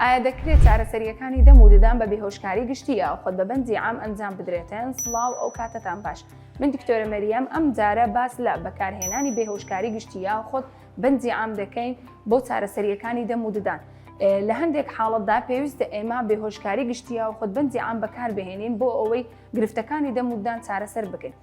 ئایا دەکرێت چارەسەرییەکانی دەم و ددان بە بێهۆشکاری گشتی یا خۆت بە بەندی عام ئەنجام بدرێتن سڵاو ئەو کاتتان باش من دکتۆرە مەریەم ئەم جارە باس لە بەکارهێنانی بێهۆشکاری گشتی یا خۆت بەندی عام دەکەین بۆ چارەسەرییەکانی دەم و ددان لە هەندێک حاڵەتدا پێویستە ئێمە بێهۆشکاری گشتیە و خودبندی ئام بەکار بهێنین بۆ ئەوەی گرفتەکانی دەموددان چارەسەر بکەین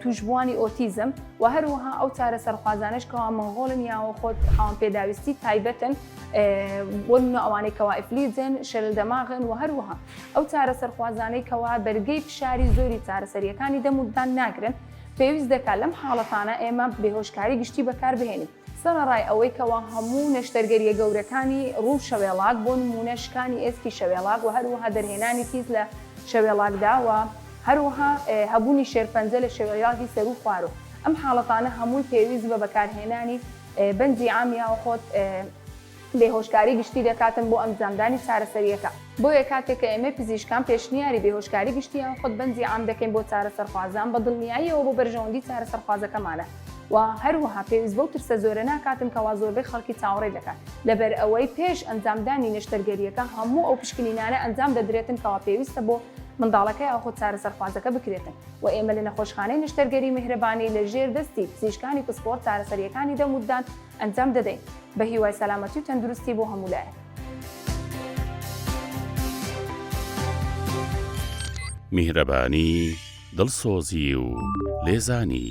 تووشبووانی ئۆتیزم و هەروەها ئەو چارە سەرخوازانش کەوا مەغۆڵن یاوە خۆت خاوەن پێداویستی تایبەتن بۆ منە ئەوانەی کەوا ئەفلیجن شەرل دەماغن و هەروەها ئەو چارە سەرخوازانەی کەوا بەرگەی فشاری زۆری چارەسەریەکانی دەموددان ناگرن پێویست دەکات لەم حاڵەتانە ئێمە بێهۆشکاری گشتی بەکاربهێنین سەرەڕای ئەوەی کەوا هەموو نەشتەرگەرییە گەورەکانی ڕوو شەوێڵاک بۆ نموونە شکانی ئێسکی شەوێڵاک و هەروەها دەرهێنانی تیز لە شەوێڵاکدا و هەروەها هەبوونی شێرپەنجە لە شەوێیاکی سەروو خوارو ئەم حاڵەتانە هەمووی پێویست بە بەکارهێنانی بەنجی عامیاوە خۆت بێهۆشکاری گشتی دەکاتن بۆ ئەمجامدانی چارەسەرییەکە، بۆیە کاتێک کە ئێمەی پزیشکان پێشنیاری بێهۆشکاری گشتی یان خودبەنزی عام دەکەین بۆ چارەسەرخوازان بە دڵنیاییەوە بۆ بەرژەوەندی چارەسەرخوازەکەمانە و هەروەها پێویست بەو ترسە زۆرە ناکاتن کەوا زۆربەی خەڵکی چاوەڕێی دەکەن لەبەرئەوەی پێش ئەنجامدانی نەشتەرگەرییەکە هەموو ئەو پشکنینانە ئەنجام دەدرێتن کەوا پێویستە بۆ منداڵەکە یاخود چارەسەرخوازەکە بکرێتن و ئێمە لە نەخۆشخانەی نەشتەرگەری میهرەبانی لە ژێر دەستی پزیشکانی پسپۆڕ چارەسەرییەکانی دەم و ددان ئەنجام دەدەین بە هیوای سەلامەتی و تەندروستی بۆ هەموو لایەک. میهرەبانی، دڵسۆزی و لێزانی.